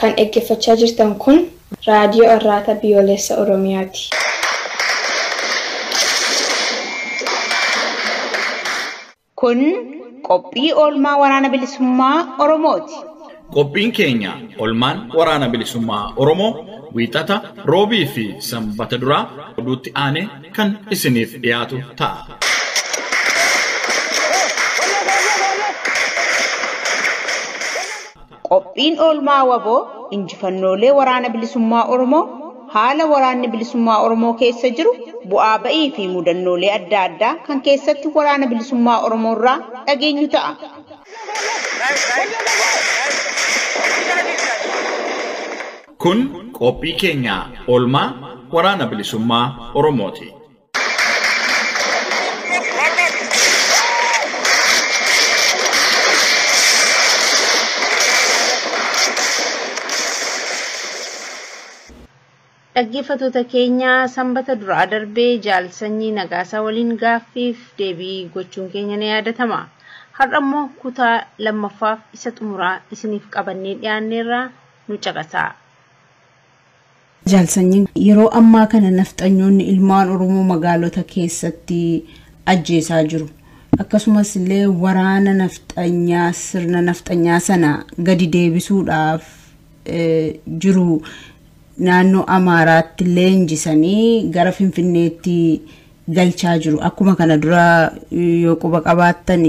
Kan dhaggeeffachaa jirtan kun raadiyoo Arraata Biyyoolessa Oromiyaati. Kun qophii oolmaa Waraana Bilisummaa Oromooti. Qophiin keenya olmaan Waraana Bilisummaa Oromoo Wiixata, Roobii fi Sanbata duraa oduutti aanee kan isiniif dhiyaatu ta'a. Qophiin oolmaa wbo injifannoolee Waraana Bilisummaa Oromoo, haala Waraanni Bilisummaa Oromoo keessa jiru, bu'aa ba'ii fi mudannoolee adda addaa kan keessatti Waraana Bilisummaa Oromoo irraa dhageenyu ta'a. Kun qophii keenya oolmaa Waraana Bilisummaa Oromooti. Dhaggeeffattoota keenya sanbata duraa darbee jaal sanyii nagaasaa waliin gaaffiif deebii gochuun keenya ni yaadatama. Har'a immoo kutaa lammaffaaf isa xumuraa isiniif qabannee dhiyaanneerraa nu caqasaa. Jaal Sanyiin, Yeroo ammaa kana nafxanyoonni ilmaan Oromoo magaalota keessatti ajjeesaa jiru. Akkasumas illee waraana nafxanyaa sirna nafxanyaa sana gadi deebisuudhaaf jiru naannoo Amaaraatti leenjisanii gara Finfinneetti galchaa jiru. Akkuma kana dura yoo quba qabaattan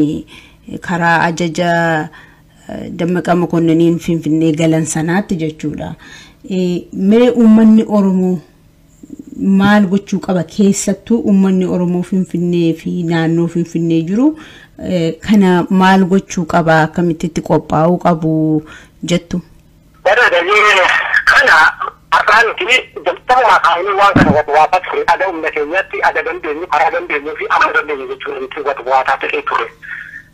karaa ajaja Dammaqaa Mokonniniin Finfinnee galan sanaatti jechuudha. Mee uummanni Oromoo maal gochuu qaba keessattuu uummanni Oromoo Finfinnee fi naannoo Finfinnee jiru kana maal gochuu qaba akkamitti itti qophaa'uu qabu jettu. Bara daree kana har'aa nuti jalqabumaa kaa'anii waan kana wad waataa ture ada humna keenyatti ada dandeenyu karaa dandeenyu fi amma dandeenyu jechuudha nuti wad waataa ta'ee ture.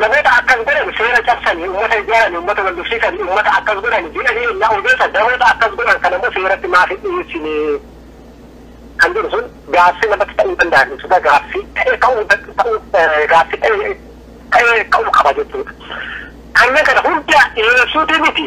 Namoota akkas godhan seera cabsani, ummata ijaarani, ummata wal lolsiisani, ummata akkas godhani jedhanii ennaa odeessan namoota akkas godhan kana immoo seeratti maaf hin dhiyeessine kan jedhu sun gaaffii namatti ta'uu danda'a jechuudha. Gaaffii ta'ee ka'uu ta'uu gaaffii ta'ee ta'ee ka'uu qaba jechuudha. Kanneen kana hunda dhiyeessuutii miti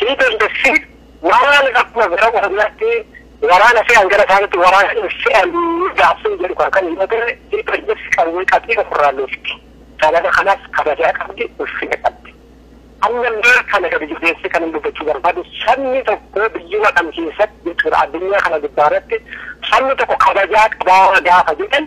Hii dandessi waraana akkuma gara Oromiyaatti waraana fe'an gara isaanitti waraana hin fe'an gaaffiin jedhu kan kan yoo ta'e hii dandessi qawwee qabdii ofirraa loofti. Sababa kanaaf kabajaa qabdi ulfina qabdi. Ammallee kana gadi jabeessee kan dubbachuu barbaadu sabni tokko biyyuma kam keessatti jechuudha addunyaa kana gubbaa irratti sabni tokko kabajaa qabaa gaafa jedhan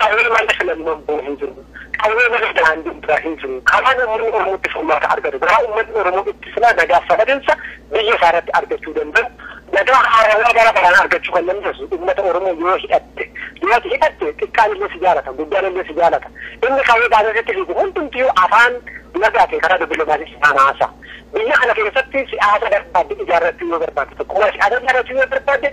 Qawwee malee filannoon bor hin jiru. Qawwee malee daandiin biraa hin jiru. Karaan uummanni Oromoo itti furmaata argatu, karaa uummanni Oromoo itti silaa nagaaf sabadinsa biyya isaa irratti argachuu danda'u, nagaa haarawaa bara baraan argachuu kan dandeessu uummata Oromoo yoo hidhatte. Yoo ati hidhatte xiqqaan illee si jaalata, guddaan illee si jaalata. Inni qawwee baatee sitti fiigu hundumtiyyuu afaan nagaatiin karaa dippilomaasii si faana haasa'a. Biyya kana keessatti siyaasa barbaadde ijaarrachuu yoo barbaadde, tokkummaa siyaasaa ijaarrachuu yoo barbaadde,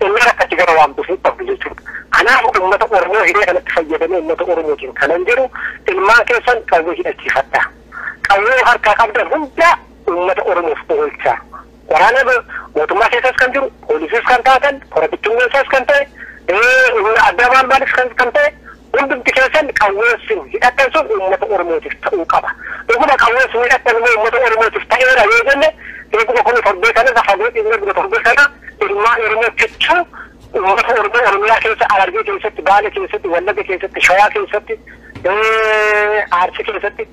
Oromoo akka itti gara waamtu hin qabdu jechuudha. Kanaaf uummata Oromoo hiree kanatti fayyadamee uummata Oromootiin kanan jedhu ilmaan keessan qawwee hidhachiifadhaa. Qawwee harkaa qabdan hundaa uummata Oromoof oolchaa. Waraana mootummaa keessas kan jiru, poolisiis kan taatan, kora bittinneessaas kan ta'e, humna addaa maal maalis kan ta'e Hundumti keessan qawween sin hidhattan sun uummata Oromootif ta'uu qaba. Dhuguma qawween sin hidhattan immoo uummata Oromootif ta'eera yoo jenne eeguma kunoo torbee kana irra fagoo dhiifnee dhuma torbee kana ilmaan Oromoo kichuu uummata Oromoo Oromiyaa keessa Harargee keessatti, Baale keessatti, Wallagga keessatti, Shawaa keessatti, Arsii keessatti,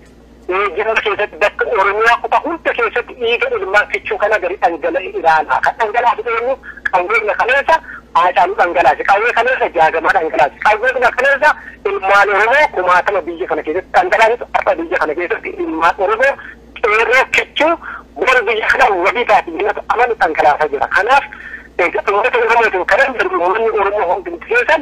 Eeyyama keessatti bakka Oromiyaa kutaa hunda keessatti dhiiga ilmaan kichuu kana gadi dhangala'e ilaalaa. Kan dhangalaase eenyu? Qawweedhuma kaleessa Haacaaluu dhangalaase, qawwee kaleessa Jaagamaa dhangalaase, qawweedhuma kaleessa ilmaan Oromoo kumaatama biyya kana keessatti dhangalaasetu har'a biyya kana keessatti ilmaan Oromoo qeerroo kichuu bor biyya kana wabii taati jennatu amanu dhangalaasaa jira. Kanaaf uummata Oromootiin kanan jedhu uummanni Oromoo hundumti keessan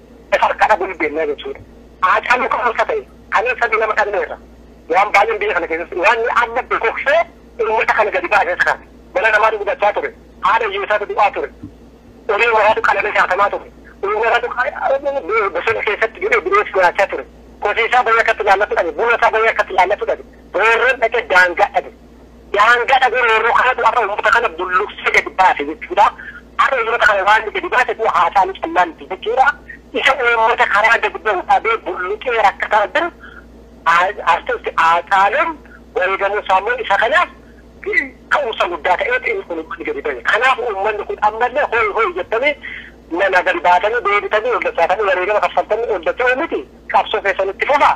Harka dhabuu hin beeknaa jechuudha. Haacaaluu kan harka ta'e kanneen sadii lama dhabneerra. Waan baay'een biyya kana keessatti waan amma bokoksee uummata kana gadi baasee isa kana. Mana namaatu gubachaa ture. Haadha hiyyeessaatu du'aa ture. Horii waraatu qalamee saatamaa ture. Horii waraatu bosona keessatti jedhee bineessi nyaachaa ture. Kosiisaa bayee akkatti ilaallatu dhabe. Buna isaa bayee akkatti ilaallatu dhabe. Boorran dhaqee daangaa dhabe. daangaa dhabee roorroo kanatu har'a uummata kana bulluqsee gadi baase jechuudha. Har'a uummata kana waan inni gadi baase du'a haasaanii callaa miti jechuudha. Isa uummata karaa gadi bahu dhabee bulluqee rakkataa jiru artisti Haacaaluun wareegamuu isaa immoo isa kanaaf ka'umsa guddaa ta'eeti inni kun uummanni gadi bahe. Kanaaf uummanni kun ammallee hooyi hooyi jettanii nama gadi baatanii deebitanii ol dachaatanii wareegama kaffaltanii ol dacha'uu miti qabsoo keessan itti fufaa.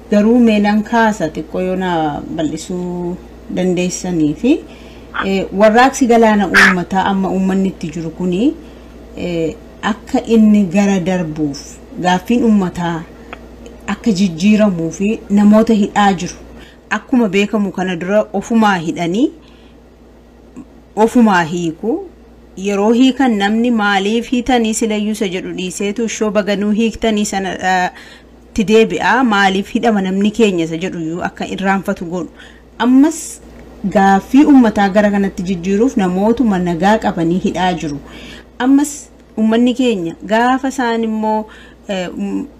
Garuu mee nan kaasa xiqqoo yoo na bal'isuu dandeessanii fi warraaqsi galaana uummataa amma uummanni itti jiru kuni akka inni gara darbuuf gaaffiin uummataa akka jijjiiramuu fi namoota hidhaa jiru akkuma beekamu kana dura ofumaa hidhanii ofumaa hiiku yeroo hiikan namni maaliif hiitanii silayyuu isa jedhu dhiiseetu ishoo baganuu hiiktanii sana tti deebi'a, maaliif hidhama namni keenya isa jedhu iyyuu akka irraanfatu godhu. Ammas gaaffii ummataa gara kanatti jijjiiruuf namootuma nagaa qabanii hidhaa jiru. Ammas ummanni keenya gaafa isaan immoo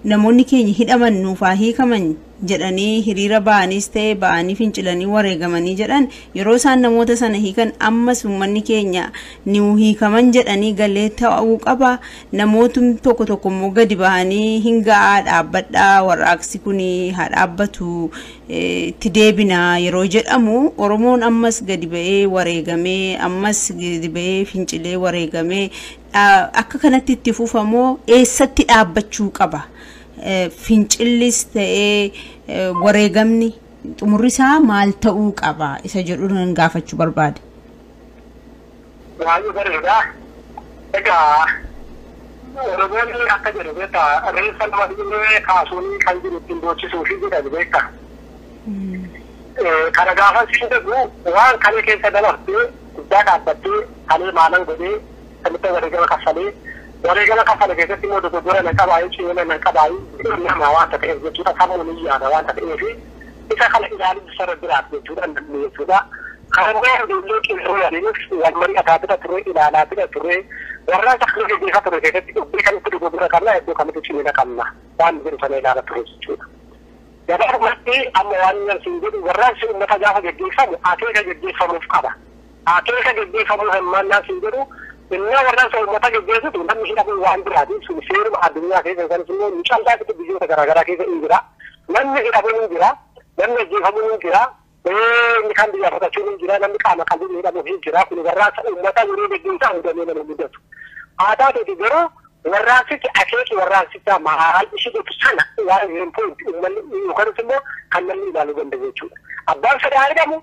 namoonni keenya hidhaman nuuf haa hiikaman jedhanii hiriira ba'aniis ta'e ba'anii fincilanii wareegamanii jedhan yeroo isaan namoota sana hiikan ammas ummanni keenya niu hiikaman jedhanii galee ta'uu qaba namootni tokko tokko immoo gadi bahanii hin ga'aa dhaabbadhaa warraaqsi kun haa dhaabbatu eh, itti deebina yeroo jedhamu Oromoon ammas gadi ba'ee wareegamee ammas gadi ba'ee fincilee wareegamee dhaa- akka kanatti itti fufamoo eessatti dhaabbachuu qaba Eh, fincillis ta'ee eh, wareegamni xumurri isaa maal ta'uu qaba isa jedhu nan gaafachuu barbaade. Baay'ee bareeda. Egaa Oromoonni akka jedhu beekta reeffa nama dhiiree kaasuun kan jiru ittiin boochisuu fi jedhan beekta. Kana gaafa siin jedhu waan kalee keessa dabartee guddaa dhaabbattee kalee maalan godhee samitti wareegama kaffalee wareegama kaffale keessatti immoo dogoggora nan qabaayee cimina nan qabaayee nama waanta ta'eef jechuudha sammuu ni yaada waanta ta'eefi Isa kana ilaaluun isa irra jiraata jechuudha namni jechuudha. Kaanillee ijoollee qeerroo waliinis wal mari'ataa bira turee, ilaalaa bira turee, warraaqsa kana gaggeessaa ture keessatti iddoo kamitti dogoggora qabna, iddoo kamitti cimina qabna waan jedhu sana ilaala ture jechuudha. Gabaabumatti amma waan nan siin jedhu warraaqsi uummata gaafa gaggeeffamu akeeka gaggeeffamuuf qaba. Akeeka geggeeffamuu hirmaannaa siin jedhu innaa warraaqsa uummataa geggeessitu namni hidhamuun waan biraati. Sun seeruma addunyaa keessa yookanis immoo nu callaa miti biyyoota garaa garaa keessa in jira. Namni hidhamuun in jira. Namni ajjeefamuun in jira. Inni kaan biyyaa baqachuun in jira. Namni qaama qalliin hidhamuuf in jira. Kun warraaqsa uummataa yeroo geggeessaa hudhamee nama mudatu. Haa taateeti garuu warraaqsichi akeeki warraaqsichaa maal ishii jettu sana waan hin pointi uummanni yookanis immoo kan namni ilaaluu danda'u jechuudha. Abbaan fedhaa hidhamu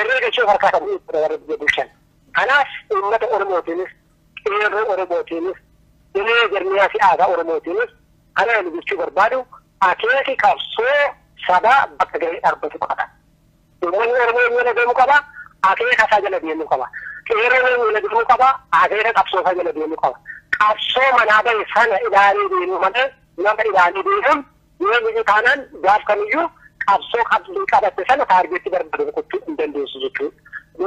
irree galchee of harkaa qabu jechuudha warra biyya bulchan. Kanaaf uummata Oromootiinis qeerroo Oromootiinis dirree jarmiyaa siyaasaa Oromootiinis kana ani jechuu barbaadu akeeki qabsoo sabaa bakka gahee dhaabbatu qaba. Uummanni Oromoo inni jala deemu qaba, akeeka isaa jala deemuu qaba. Qeerroon inni jala deemuu qaba, akeeka qabsoo isaa jala deemuu qaba. Qabsoo manaa bahe sana ilaalee deemuu malee nama ilaalee deemuun Yoomiyyuu taanaan gaaf kamiyyuu qabsoo qabdii qabatte sana taargeetti barbaade rukuchuu hin dandeessu jechuudha.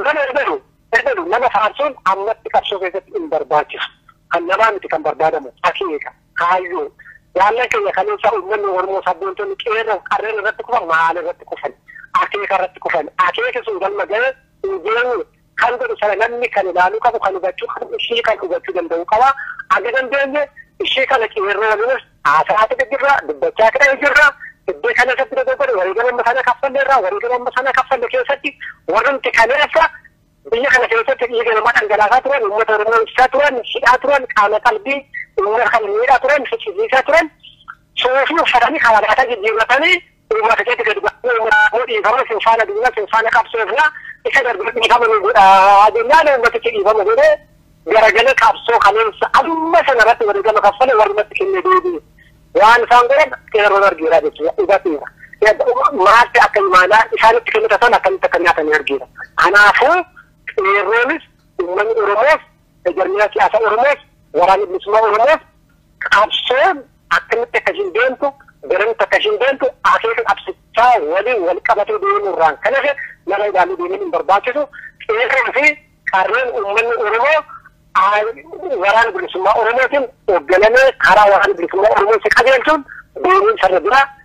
Nama ergalu ergalu nama faarsuun ammatti qabsoo keessatti hin barbaachisu. Kan namaa miti kan barbaadamu akeeka kaayyoo jaallan keenya kaleessa uummanni Oromoo sabboontonni qeerroo qarreen irratti kufan maal irratti kufan akeeka irratti kufan akeeki sun galma ga'e hin geenye kan godhu sana namni kan ilaaluu qabu kan hubachuu qabu ishii kan hubachuu danda'uu qaba aga dandeenye ishii kana qeerroo waliinis haasaa haasa'e jirra dubbachaa ta'e jirra iddoo kana irratti dogoggore wareegama amma sana kaffalle irraa wareegama amma sana kaffalle keessatti warrumti kaleessa biyya kana keessatti dhiiga namaa dhangalaasaa turan uummata oromoo ibsaa turan hidhaa turan qaama qalbii uummata kan miidhaa turan fichisiisaa turan suufii uffatanii karaa jijjiirratanii Uummata keetti gadi ba'aa uummata dhiifama isin faana duuna isin faana qabsoofna isa darbe dhiifama nu godhaa jennaan uummatichi dhiifama godhee garagalee qabsoo kaleessa amma sana irratti wareegama kaffale warrumatti kennee deebi'e. Waan isaan godhan qeerroon argeera jechuudha dhugaatiidha. Maalti akka imaanaa isaanitti kennita sana akkamitti akka nyaatan argeera. Kanaafuu qeerroonis uummanni Oromoos Jarmina siyaasa Oromoos waraanni bilisummaa Oromoos qabsoon akkamitti akka ishiin deemtu garamitti akka ishiin deemtu akeeka qabsichaa waliin wal qabatee deemuu irraan kan hafe nama ilaaluu deemuun hin barbaachisu qeerroo fi qarreen uummanni Oromoo waraana bilisummaa Oromootiin hoogganamee karaa waraana bilisummaa Oromootti qajeelchuun deemuun sarara biraa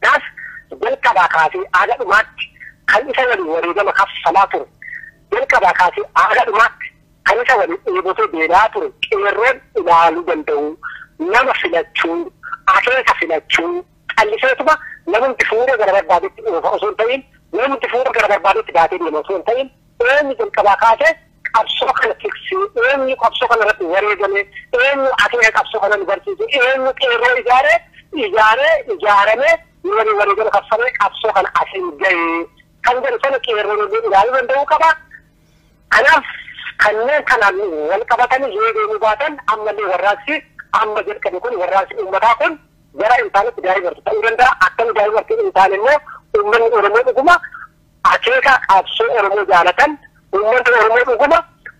Kanaaf jalqabaa kaasee haga dhumaatti kan isa waliin wareegama kaffalaa ture, jalqabaa kaasee haga dhumaatti kan isa waliin dheebotee beela'aa ture qeerroon ilaaluu danda'uu, nama filachuu, akeeka filachuu, calliseetuma namumti fuudhee gara barbaadetti oofa osoo hin ta'iin, namumti fuudhee gara barbaadetti baatee deema osoo hin ta'iin, eenyu jalqabaa kaasee Qabsoo kana tikse eenyu? Qabsoo kana irratti wareegame eenyu? Akeeka qabsoo kana nu barsiise eenyu? Qeerroo ijaare ijaare ijaarame nu waliin wareegama kaffalee qabsoo kana asiin gahe kan jedhu sana qeerroon illee ilaaluu danda'uu qaba. Kanaaf kanneen kanaan wal qabatanii yoo deemuu baatan ammallee warraaqsi amma jalqabe kun warraaqsi uummataa kun gara hin taanetti daa'imarti ta'uu danda'a. Akkami daa'imarti hin taane immoo uummanni Oromoo dhuguma akeeka qabsoo Oromoo jaalatan, uummanni Oromoo dhuguma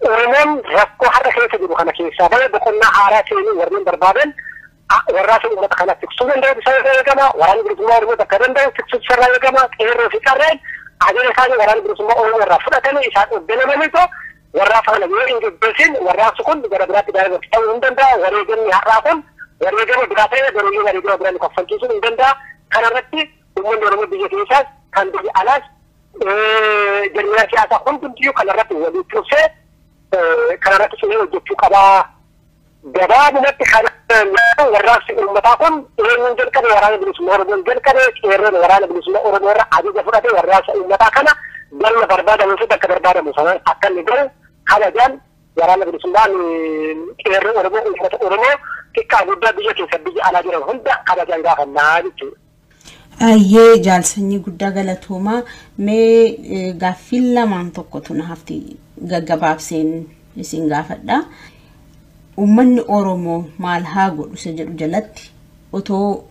Oromoon rakkoo har'a keessa jiru kana keessaa bahee boqonnaa haaraa seenuu warreen barbaadan warraaqsa uummata kana tiksuu danda'utu isa irraa eegama. Waraanni bilisummaa Oromoo bakka danda'u tiksuutu isa irraa eegama. Qeerroo fi qarreen ajaja isaanii waraanni bilisummaa Oromoo irraa fudhatanii isaan hogganamaniitu warraaqsa kana yoo hin gaggeessin warraaqsi kun gara biraatti daa'imatti ta'uu hin danda'a. Wareegamni har'aa kun wareegama biraa ta'ee garuu wareegama biraa nu kaffalchiisuu hin danda'a. Kanarratti Uummanni Oromoo biyya keessaas kan biyya alaas jarmiyaa siyaasaa hundumtiyyuu kanarratti walii tursee kanarratti cimee hojjechuu qabaa. Gabaabumatti kan warraaqsi uummataa kun eenyuun jalqabe waraana bilisummaa Oromoon jalqabe qeerroon waraana bilisummaa Oromoo irra ajaja fudhate warraaqsa uummataa kana galma barbaadamuu fi bakka barbaadamu sanaan akka inni gahu kabajaan waraana bilisummaan qeerroo Oromoo uummata Oromoo xiqqaa guddaa biyya keessa biyya alaa jiran hunda kabajaan gaafannaa jechuudha. Ayyee jaal sanyii guddaa galatoomaa mee eh, gaaffiin lamaan tokkotu na hafti gaggabaabseen isin gaafadha. Uummanni Oromoo maal haa godhu isa jedhu jalatti otoo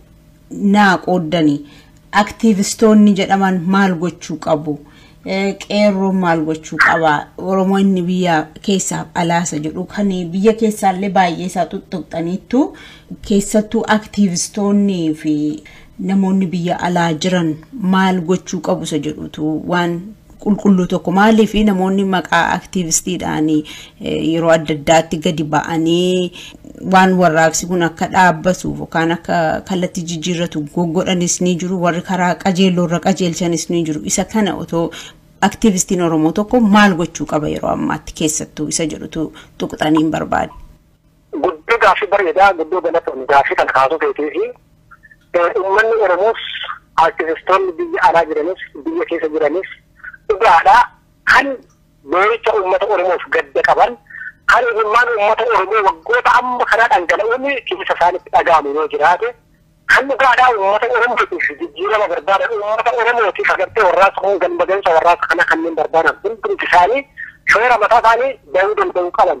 naa qooddanii aktiivistoonni jedhaman maal gochuu qabu? Qeerroon maal gochuu qaba? Oromoo inni biyya keessaaf alaasa jedhu kan biyya keessaallee baay'ee isaa tuttuqxaniittu keessattuu aktiivistoonnii fi namoonni biyya alaa jiran maal gochuu qabu isa jedhutu waan qulqulluu tokko maaliif namoonni maqaa aktiivistiidhaan yeroo adda addaatti gadi ba'anii waan warraaqsi kun akka dhaabbatuuf yookaan akka kallattii jijjiirratu goggodhanis ni jiru warri karaa qajeelloo irra qajeelchanis ni jiru isa kana otoo aktiivistiin Oromoo tokko maal gochuu qaba yeroo ammaatti keessattuu isa jedhutu tuqxaniin barbaade. Guddoo gaaffii bareedaa guddoo galatoon gaaffii kana kaasuu keetii fi uummanni Oromoos aktiivistoonni biyya alaa jiranis biyya keessa jiranis dhugaadhaa kan Boo'icha uummata Oromoof gadda qaban, kan imimmaan uummata Oromoo waggoota amma kanaa dhangala'uun keessa isaanitti dhaga'amu yoo jiraate, kan dhugaadhaa uummata Oromootiif jijjiirama barbaadan, uummata Oromootiif agartee warraaqsa kun galma gahinsa warraaqsa kanaa kanneen barbaadan hundumti isaanii shoora mataa isaanii bahuu danda'uu qaban.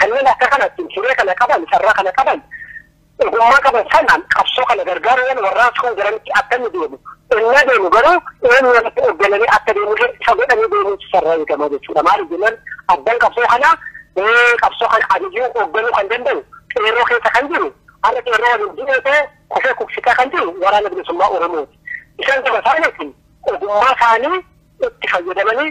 Kanneen akka kanatti hiree kana qaban, carraa kana qaban, ogummaa qaban sanaan qabsoo kana gargaaruu malu warraaqsi kun garamitti akka inni deemu ennaa deemu garuu eenyu irratti hooggananii akka deemullee isa godhanii deemuutu sarara eegama jechuudha. Maaliif jennaan abbaan qabsoo kanaa qabsoo kana ajajuu hoogganuu kan danda'u qeerroo keessa kan jiru har'a qeerroo waliin jiru ta'e kufee kufsitaa kan jiru waraana bilisummaa Oromooti. Isaan gaba isaaniitiin ogummaa isaanii itti fayyadamanii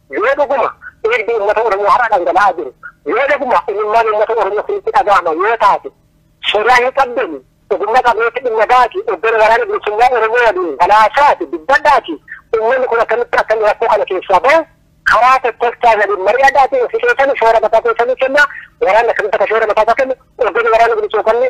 Yoo dhuguma dhiigni uummata Oromoo har'a dhangala'aa jiru, yoo dhuguma imimmaan uummata Oromoo isinitti dhaga'ama yoo taate, sodaa hin qabdanii ogummaa qabneetti dhimma ba'aatii Obbolo Waraana Bilisummaa Oromoo waliin wal haasa'aatii dubbadhaatii uummanni kun akkamitti akka inni rakkoo kana keessaa bahu karaa tokkolchaa waliin mari'adhaatii ofi keessanii shoora mataa keessanii kennaa waraanni akkamitti akka shoora mataa isaa kennu Obbolo Waraana Bilisummaa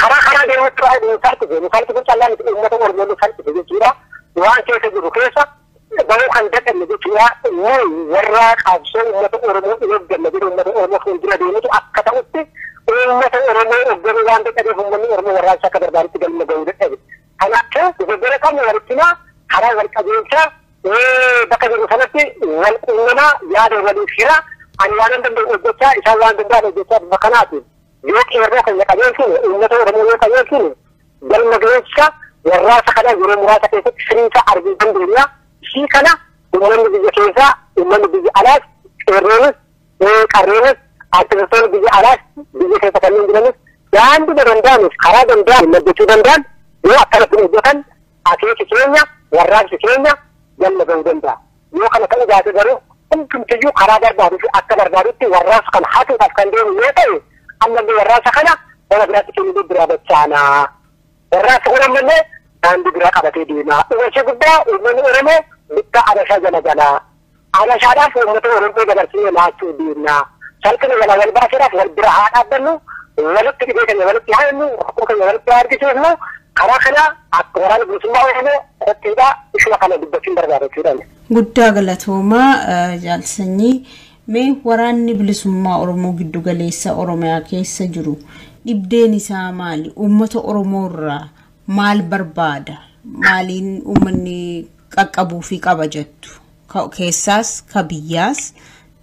Karaa karaa deemutti baay'ee nu salphise. Nu salphise callaan itti uummata Oromoo nu salphise jechuudha. Waan keessa jiru keessa bahuu kan dadhabne jechuudha. Inni warra qabsoo uummata Oromoo hin hojjenne jedhu uummata Oromoo fuuldura deemutu akka ta'utti uummata Oromoo hojjennuu waan dadhabeef uummanni Oromoo warraaqsa akka barbaadutti galma gahuu dadhabe. Kanaafuu dogoggora qabnu walittinaa karaa wal qabeessa bakka jiru sanatti wal quunnamaa yaada waliif hira ani waan danda'u hojjechaa isaan waan danda'an hojjechaa bifa kanaatiin Yoo qeerroo keenya qajeelchine, uummata Oromoo yoo qajeelchine, galma gahiinsa warraaqsa kana yeroo muraasa keessatti firii isaa arguu dandeenya. Ishii kana uummanni biyya keessaa, uummanni biyya alaas, qeerroonis, qarreenis, artistoonni biyya alaas, biyya keessa kanneen jiranis daandii danda'anis karaa danda'an hojjechuu danda'an yoo akkanatti hojjetan akeeki keenya warraaqsi keenya galma gahuu danda'a. Yoo kana ta'uu baate garuu hundumtiyyuu karaa barbaaduu fi akka barbaadutti warraaqsa kana hatuudhaaf kan deemu yoo ta'e ammallee warraaqsa kana bara biraatti kennuu biraa dachaana. Warraaqsi kun ammallee daandii biraa qabatee deema. Uwwisa guddaa uummanni Oromoo bittaa Abashaa jala jala. Abashaadhaaf uummata Oromoo dabarsinee laachuu deemna. Salphina jala wal baasuudhaaf wal bira haa dhaabbannu. Walitti dhibee keenya walitti haannu, rakkoo keenya walitti haa argisiifnu. Karaa kanaa akka waraana bilisummaa Oromoo qophiidha isuma kana dubbachuun barbaada jechuudhaan. Guddaa galatoomaa jaal sanyii mee waraanni bilisummaa Oromoo giddu galeessa Oromiyaa keessa jiru dhibdeen isaa maali? Uummata Oromoo irraa maal barbaada? Maaliin uummanni qaqqabuufii qaba jettu? Ka keessaas ka biyyaas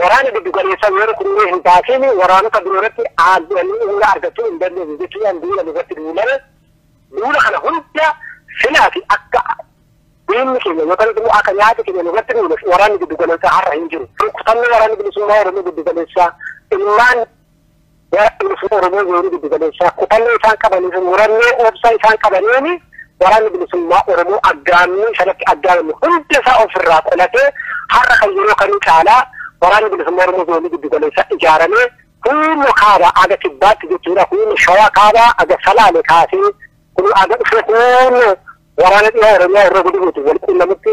Waraana giddugaleessaa yoo rukunnee hin baasiin waraanota biroo irratti aangoonni humna argachuu hin dandeenye jechuudhaan duula nurratti duulan. Duula kana hunda silaati akka diinni keenya yookaan immoo akka nyaata keenya nurratti duuleef waraanni giddugaleessaa har'a hin jiru. Rukutamni waraanni bilisummaa Oromoo giddugaleessaa ilmaan Waraanni bilisummaa Oromoo zoonii giddu galeessaa kutannoo isaan qabanii fi murannoo obsa isaan qabaniin waraanni bilisummaa Oromoo aggaammii sanatti aggaamame hunda isaa ofirraa qolatee har'a kan yeroo kamii caalaa waraanni bilisummaa Oromoo zoonii giddu galeessaa ijaaramee humna kaabaa aga kibbaatti jechuudha humna shawaa kaabaa aga salaale kaasee kun aga dhufee kun waraana dhiyaa Oromiyaa irra guduruuti wal quunnamutti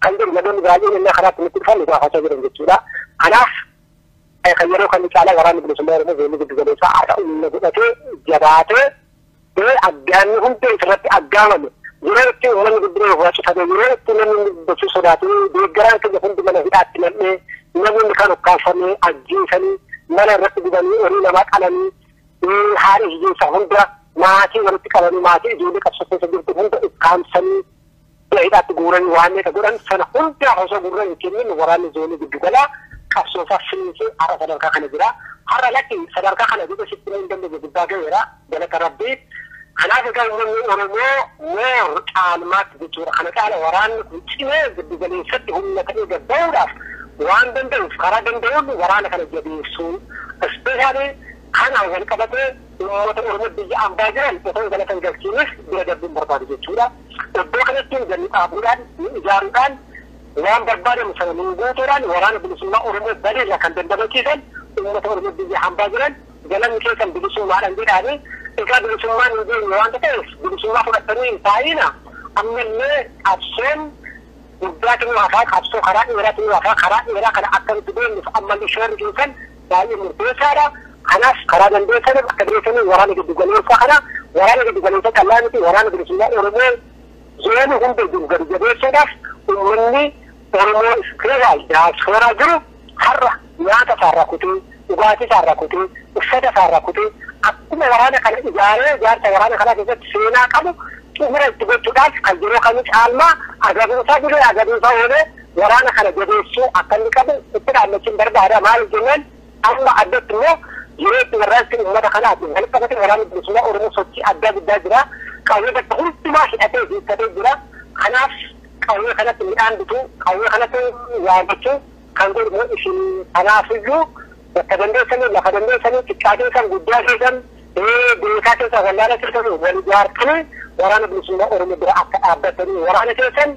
kan jedhu namoonni baay'een innaa karaatti nutti dhufan nu gaafachaa jiran jechuudha. Kanaaf kan yeroo kan caalaa waraanni bilisummaa Oromoo zoonii giddu galeessaa har'a humna godhatee jabaatee bee aggaamni hundee isirratti aggaamame yeroo itti uummanni guddina irraa cufame yeroo itti namni gochuu sodaatu deeggaraan keenya hundi mana hidhaatti nam'ee namoonni kan ukkaamfamee ajjeesanii mana irratti gubanii horii namaa qalanii haadha hiyyeessa hunda maatii walitti qabanii maatii ijoollee qabsoo keessa jirtu hunda ukkaamsanii Mana hidhaatti guuranii waanneeta godhan sana hundaa osoo gurra hin kennin waraanni zoonii giddu galaa qabsoo isaa finiinsee har'a sadarkaa kana jira. Har'a lakki sadarkaa kana jedhee sitti himuu hin dandeenye gubbaa gaheera galata rabbii. Kanaaf egaa uummanni Oromoo moor caalmaatti jechuudha. Kana caala waraanni kun cimee giddu galeessatti humna ta'ee gad ba'uudhaaf waan danda'uuf karaa danda'uun waraana kana jabeessuu ispeeshaalii kanaan wal qabatee uummata Oromoo biyya ambaa jiran osoo galata hin galchiinis bira darbuun barbaadu jechuudha. Iddoo kanatti gadi dhaabuudhaan, ni ijaaruudhaan, waan barbaadamu sana nuun guutuudhaan Waraana Bilisummaa Oromoo badii irraa kan dandamachiisan uummata Oromoo biyya hambaa jiran galanni keessan bilisummaadhaan jedhaanii egaa bilisummaan hin geenye waanta ta'eef bilisummaa fudhattanii hin taa'iina ammallee qabsoon guddaatu nu hafaa qabsoo karaa dheeraatu nu hafaa karaa dheeraa kana akka nuti deemnuuf ammallee shoorri keessan baay'ee murteessaadha. Kanaaf karaa dandeessanii bakka dandeessanii waraana giddu galeessaa kana waraana giddu galeessaa callaa miti waraana bilisummaa Oromoo zoonii hunda jiru gadi jabeessuudhaaf uummanni Oromoo ispeeraal daaspooraa jiru har'a nyaata isaarraa kutee dhugaatii isaarraa kutee uffata isaarraa kutee akkuma waraana kana ijaaree ijaarsa waraana kanaa keessatti seenaa qabu xumura itti gochuudhaaf kan yeroo kamuu caalmaa agaruusaa dhibee agaruusaa oolee waraana kana jabeessuu akka inni qabu itti dhaammachuun barbaada. Maaliif jennaan amma addatti immoo yeroo itti warraaqsi uummata kanaatiin kan qabate waraanni bilisummaa Oromoo sochii addaa guddaa jira. Qawwee bakka hundumaa hidhatee hiikkatee jira. Kanaaf qawwee kanatti midhaan bituu, qawwee kanatti waamachuu kan godhu immoo isin kanaafiyyuu bakka dandeessanii lafa dandeessanii xiqqaa keessan guddaa keessan beekaa keessan wallaala keessan wal ijaartanii waraana bilisummaa Oromoo bira akka dhaabbatanii waraana keessan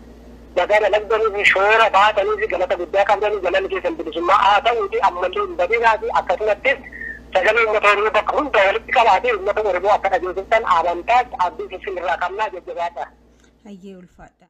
Baga dalagdanii fi shoora baataniif galata guddaa qabdanii galanni keessan bilisummaa haa ta'uutii ammallee hin badinaatii akkasumattis sagalee uummata Oromoo bakka hundaa walitti qabaatee uummata Oromoo akka dhageessiftan amantaas abdiis isin irraa qabnaa jajjabaadhaa. Hayyee ulfaadhaa.